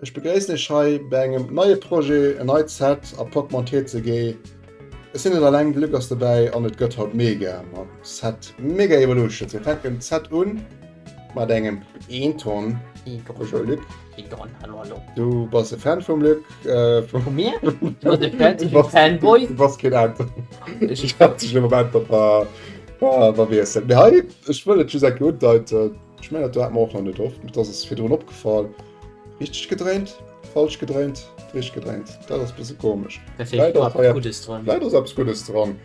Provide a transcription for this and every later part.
Ech begréissen iech hei bei engem neie Projet, en neit Set a Portmont TCG. Ech sinn net alleng, de Luc ass dobäi an et gëtt haut mega mam Set Mega Evolutions. Mir fänken d'Set un mat engem Eton. Bonjour Luc. Eton, hallo hallo. Du bass e Fan vum Luc? Vu mir? Not e Fan, ech sinn e Fanboy. Du bass keen Auto. Ech hat sech elo beäntwert, wa wa wier Set. Mee hei, ech wëll et just enke undeiten. Ech mengen dat hat mer och nach net oft, dat ass virdrun opgefall. Richteg gedréint, falsch gedréint, richteg gedréint. Dat ass e bësse komesch. Vläit ass eppes Guddes dran. Vläit ass eppes Guddes dran.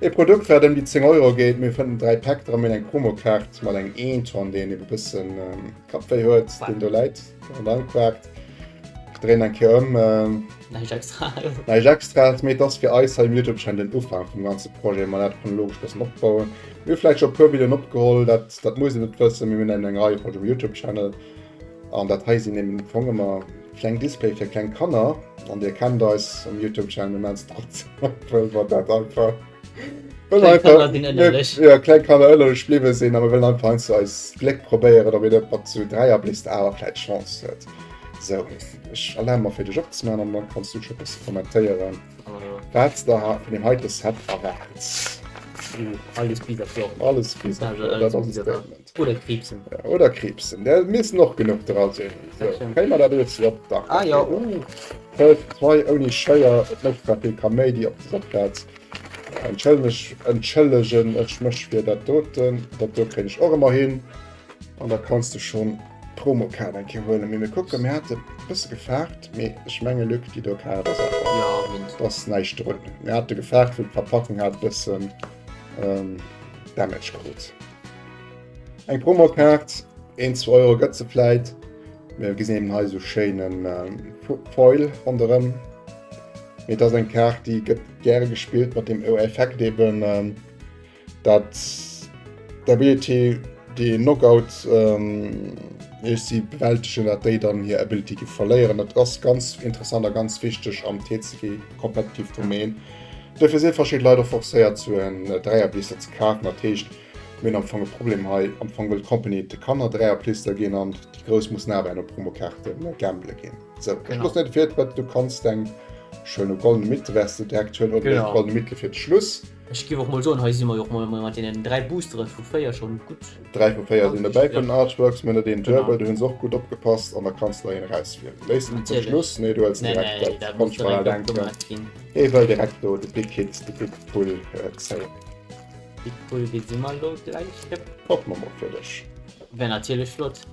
E Produkt wat ëm déi 10 Euro geet, mee fënnt en 3 Pack dran, mir hunn eng Promokaart mat engem Eeton, deen ebe bësse Kappwéi huet, deen do läit an dann quakt. Ech dréinen eng Kéier ëm. Näischt Extraes. Näischt Extraes, mee et ass fir eis hei um Youtube-Channel den Ufank vum ganze Projet, mä dat chronologesch bëssen opbauen. Mir hu vläit scho e puer Videoen opgeholl, dat muss een net wëssen. Mir hunn eng eng Rei vun Youtube Channel an dat hei sinn am Fong ëmmer kleng Displaye fir kleng Kanner an Dir kennt eis um Youtube Channel mir man Stats op wëll mer dat einfach wëll einfach jo kleng Kanner ënnerlech bliwwe sinn a mir wëllen einfach heiansdo eist Gléck probéieren op een net mat zu Dräier bléist awer vläit Chance huet. Sou, ech erlabe mer fir dech opzemaachen an da kanns du scho e bësse kommentéieren. Wat der hat mir heite Set erwaart. Alles bis op Joer. Alles bis op Joer. Dat ass e Statement. Oder Kriibsen. Oder Kriibsen. Där missten och genuch dra sinn. Dat stëmmt. Kréie mer dat elo ze op? Dach. Ah jo, uh. Fënnef Pei ouni Schéier. Et mécht zwar vill Kaméidi op dëser Plaz. Entschëllegen ech mech fir dat doten. Dat do kréien ech och ëmmer hin. An da kanns de schonn d'Promokaart eng Kéier huelen. Mee mir kucken, mir hate bësse gefaart, mee ech menge Luc, déi do Kaart ass einfach, do ass näischt drun. Mir hate gefaart, wou d'Verpackung hat e bëssen Damage krut. Eng Promokaart, een, zwou Euro gëtt se vläit. Mir gesinn eben hei esou schéine Foil ronderëm. Mee et ass eng Kaart, déi gëtt gäre gespillt mat deem Effekt eben, Dat d'Ability déi een Knockout ähm, ech si bewältegen, dat déi dann hir Ability gi verléieren. Dat ass ganz interessant a ganz wichteg am TCG Competitive Domain. Dofir sinn verschidde Leit och forcéiert zu en äh, Dräierblister ze kafen. Dat heescht, mir am Fong e Problem hei am Fong wëll Company de Kanner Dräierblister ginn an déi Grouss mussen awer en op Promokarte äh, gamble ginn. So, genau. Schluss net fir, wat du kannst eng schöne goldene Mitte wärst du direkt schön oder goldene Mitte fir Schluss. Ech giff och mol soen, hei si mer jo och mol mat deenen 3 Boosteren vu fréier schon gutt. 3 vu 4 sinn dobäi komm, den Artworks, mir net een Duebel, do hunn se och gutt opgepasst an da kanns der een erauswielen. Léisst en zum Schluss? Nee, du hëls direkt dat, dat konnt ech mer al denken, ee wëll direkt do de Big Hit, de Big Pull zéien. Big Pull, dee si mer elo gläich. Hoffen mer mol fir dech. Wär natierlech flott.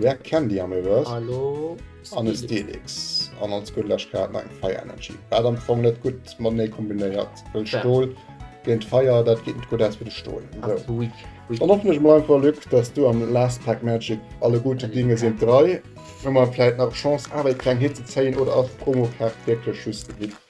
Rare Candy am Reverse. Hallo Steelix. An e Steelix. An als gutt lech grad nach eng Fire Energy. Wat am Fong net gutt matenee kombinéiert, well Stol géint Feier, dat geet net gutt aus fir de Stol. Sou. Dann hoffen ech mol einfach, Luc, dass du am Last Pack Magic alle gute Dinge sind drei hu mer vläit nach d'Chance awer ee kleng Hit ze zéien oder ass d'Promokaart wierklech just e Hit?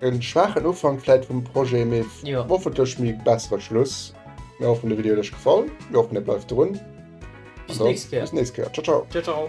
En schwaachen Ufank vläit vum Projet, mee hoffentlech méi bessere Schluss. Mir hoffen de Video huet lech gefall, mir hoffen dir bleift drun. Bis d'nächst Kéier. Bis d'nächst Kéier. Ciao ciao. Ciao ciao.